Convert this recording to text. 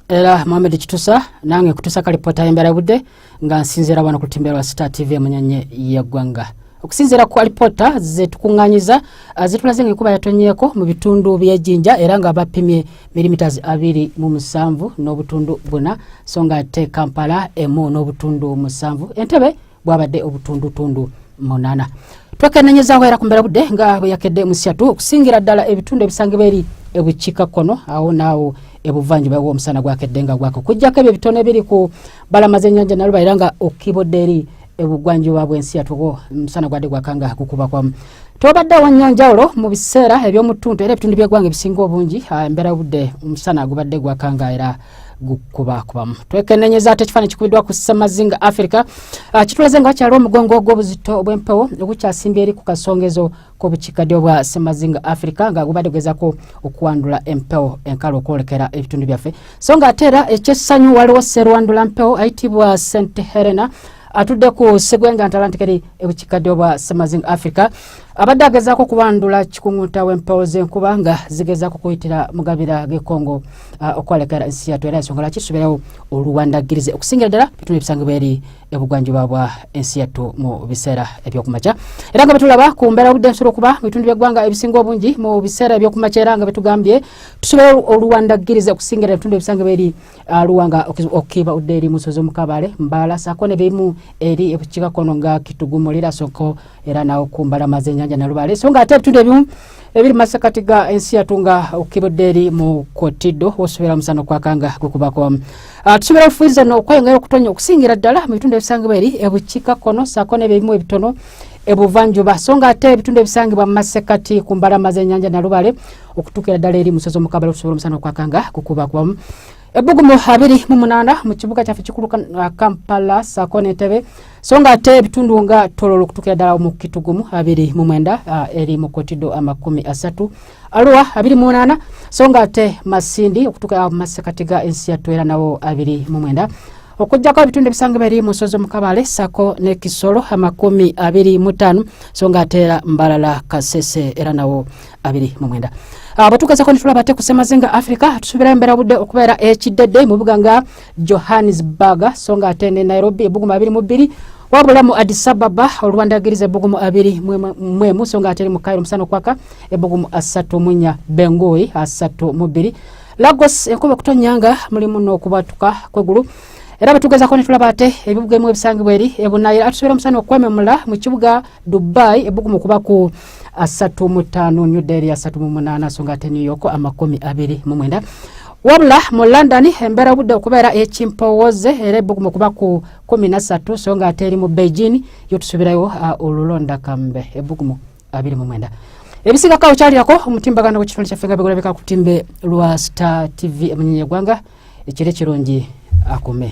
era mohamed kitusa nange kutusa kalipota yembera budde nga nsinzira wano ku lutimbe lwa star tv emunyanye yeggwanga okusinzira ku alipota zetukunganyiza ah, zitulaze nga ekuba yatonyeko mu bitundu byejinja era nga bapimye milimiters abiri mu musanvu n'obutundu buna so nga ate kampala emu n'obutundu musanvu entebe bwabadde obutundutundu munana twekenenyezaho era kumbera budde nga bwe yakedde musiatu okusingira ddala ebitundu ebisangibwa eri ebukiika kkono awo naawo ebuvanjuba womusana gwakedde nga gwaka okujjako ebyo ebitone ebiri ku balama zenyanja naluba era nga okibodde eri ebugwanjuba bwensi yatuwo musana gwadde gwaka nga gukubakwamu tobadde wanyanjawulo mu biseera eby'omutuntu era ebitundu by'eggwanga ebisinga obungi ah, embeera budde omusana gubadde gwakanga era gukubakubamu twekenenyeza ate ekifaananyi kikubiddwa ku ssemazinga africa ah, kitulaze nga wakyaliwo omugongo ogw'obuzito obw'empewo ogukyasimbye eri ku kasongezo k'obukiikaddyo bwa ssemazinga africa nga gubadde gugezako okuwandula empewo enkalo okwolekera ebitundu byaffe so nga ate era ekyessanyu waliwo serwandula mpewo ayitibwa st helena ah, atudde ku segwenga ntalantikeri ebukikkadde obwa samazing africa abadde agezaako okubandula kikungunta w'empewo z'enkuba nga zigezaako kuyitira mugabira g'ekongo uh, okwalekera ensi yatu era ensonga lwaki tusuubirawo oluwandagirize okusingira ddala bitundu ebisangibwa eri ebugwanjuba bwa ensi yattu mu biseera ebyokumakya era nga betulaba ku mbeera obudde nsobola okuba mu bitundu by'eggwanga ebisinga obungi mu biseera ebyokumakya era nga betugambye tusuubirawo oluwandagirize okusingira ebitundu ebisangibwa eri Ah, luwanga okiba udde eri musozi omukabale mbala sako ne bimu eri ebukiga kono nga kitugumulira soko era nawo kumbala mazenyanja na lubale so nga atetu de bimu ebiri masakati ga ensi yatunga okiba udde eri mu kotido osubira musano kwa kanga kukubako uh, ah, tusubira ofuiza no kwa ngero kutonya okusingira dala mu bitunde bisangibwa eri ebukiga kono sako ne bimu ebitono ebuvanjuba so nga ate ebitunde bisangibwa mu masekati kumbala mazenyanja na lubale okutuukira ddala eri musozi omukabala okusobola omusana okwakanga kukuba kwamu ebbugumu abiri mu munaana mu kibuga kyaffe kikulu uh, kampala saako n'entebe so nga ate ebitundu nga tololo okutuukira ddala mu kitugumu abiri mu mwenda uh, eri mu kotido amakumi asatu aluwa abiri mu munaana so nga ate masindi okutuukira uh, mu masekati ga ensi yattu era nawo abiri mu mwenda okujjako ebitundu ebisangibwa eri mu nsozi omukabale sako ne kisolo amakumi abiri mu ttaano so nga ate era mbalala kasese era nawo abiri mu mwenda abatuukazako ah, netulaba ate kusemazinga africa tusubira embera budde okubeera ekiddedde mu bibuga nga johannesburg so nga ate ne nairobi ebugumu abiri mu bbiri wabula mu addis ababa olwandagiriza ebugumu abiri mwemu so nga ate eri mu kairo omusana okwaka ebugumu asatu munya bengoyi asatu mu bbiri lagos enkuba okutonyanga mulimu n'okubatuka kwegulu era bwetugezako netulaba ate ebibuga emu ebisangibwa eri ebunayira atusubira omusana okwememula mu kibuga dubai ebbugumu kuba ku asatu mu ttaano new delhi asatu mu munaana so nga ate new york amakumi abiri mu mwenda wabula mu london embeera obudde okubeera ekimpowooze era ebbugumu kuba ku kumi na ssatu so nga ate eri mu beijing yo tusubirayo uh, olulonda kambe ebbugumu abiri mu mwenda ebisiga kawo kyalirako omutimbagano gwekitonde kyaffe nga bigulabika ku timbe lwa star tv emunyenye egwanga ekiro ekirungi akume